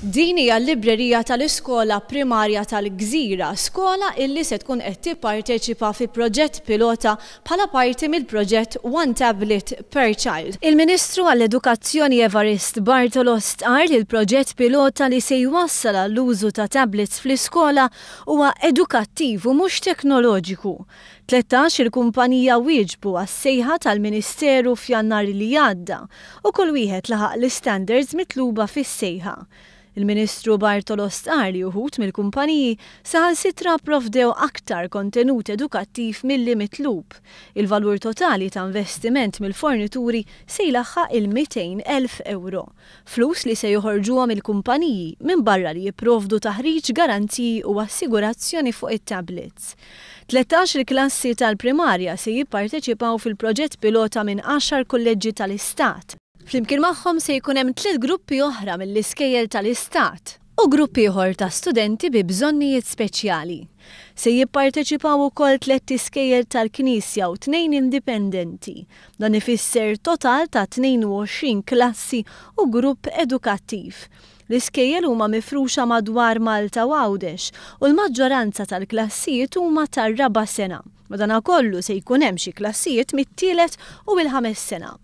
Din hija l-librerija tal-iskola primarja tal-Gżira, skola illi se tkun qed tipparteċipa fi proġett pilota bħala parti mill-proġett One Tablet per Child. Il-Ministru għall-Edukazzjoni Evarist Bartolo stqarr li l-proġett pilota li se jwassal għall-użu ta' tablets fl-iskola huwa edukattiv u mhux teknoloġiku. Tlettax il-kumpanija wieġbu għas-sejħa tal-Ministeru f'Jannar li għadda u kull wieħed laħaq l-istandards mitluba fis-sejħa. Il-Ministru Bartolo stqarr li uħud mill-kumpaniji saħansitra pprovdew aktar kontenut edukattiv milli mitlub. Il-valur totali ta' investiment mill-fornituri se jlaħħaq il-200,000 ewro. Flus li se joħorġuhom il-kumpaniji minbarra li jipprovdu taħriġ, garanziji u assigurazzjoni fuq it-tablets. Tlettax il-klassi tal-primarja se jipparteċipaw fil-proġett pilota minn għaxar kulleġġi tal-Istat. Flimkien magħhom se jkun hemm tliet gruppi oħra mill-iskejjel tal-Istat. u grupp ieħor ta' studenti bi bżonnijiet speċjali. Se jipparteċipaw ukoll tlett iskejjel tal-Knisja u tnejn indipendenti. Dan ifisser total ta' 22 klassi u grupp edukattiv. L-iskejjel huma mifruxa madwar Malta u Għawdex u l-maġġoranza tal-klassijiet huma tar-raba' sena. Madankollu se jkun hemm xi klassijiet mit-tielet u l-ħames sena.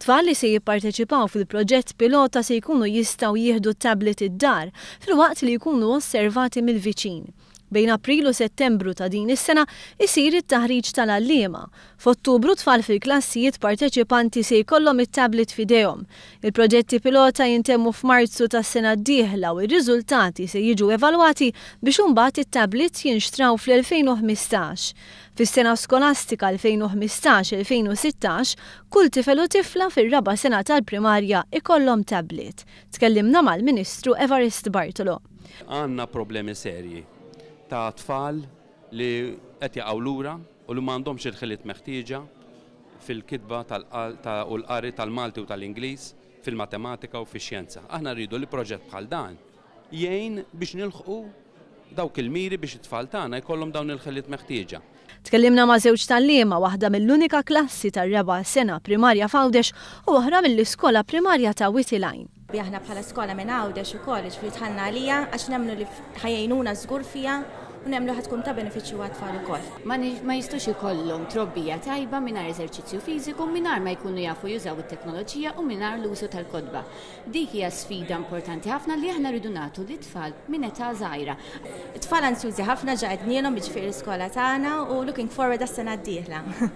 Tfal li se jipparteċipaw fil-proġett pilota se jkunu jistgħu jieħdu tablet id-dar filwaqt li jkunu osservati mill-viċin. Bejn April u Settembru ta' din is-sena jsir it-taħriġ tal-għalliema. F'Ottubru tfal fil-klassijiet parteċipanti se jkollhom it-tablet f'idejhom. Il-proġetti pilota jintemmu f'Marzu tas-sena d-dieħla u r-riżultati se jiġu evalwati biex imbagħad it-tablets jinxtraw fl-2015. Fis-sena skolastika 2015-2016, kull tifel u tifla fir-raba' sena tal-primarja ikollhom tablet. Tkellimna mal-Ministru Evarist Bartolo. Għandna problemi serji ta' tfal li qed jaqgħu lura u li ma għandhomx il-ħiliet meħtieġa fil-kitba u l-qari tal-Malti u tal-Ingliż, fil-matematika u fix-xjenza. Aħna rridu li proġett bħal dan jgħin biex nilħqu dawk il-miri biex it-tfal tagħna jkollhom dawn il-ħiliet meħtieġa. Tkellimna ma' żewġ tgħalliema, waħda mill-unika klassi tar-raba' sena primarja f'Għawdex u oħra mill-iskola primarja ta' Wied il-Għajn. Li aħna bħala skola minn Għawdex ukoll, jiġifieri dħalna għaliha għax nemmnu li ħa jgħinuna żgur fiha u nemmnu ħa tkun ta' benefiċċju għat-tfal ukoll. Ma jistgħux ikollhom trobbija tajba mingħajr eżerċizzju fiżiku, mingħajr ma jkunu jafu jużaw it-teknoloġija u mingħajr l-użu tal-kotba. Dik hija sfida importanti ħafna li aħna rridu nagħtu lit-tfal minn età żgħira. It-tfal ansjużi ħafna ġa qednielhom jiġifieri l-iskola tagħna u looking forward għas-sena d-dieħla.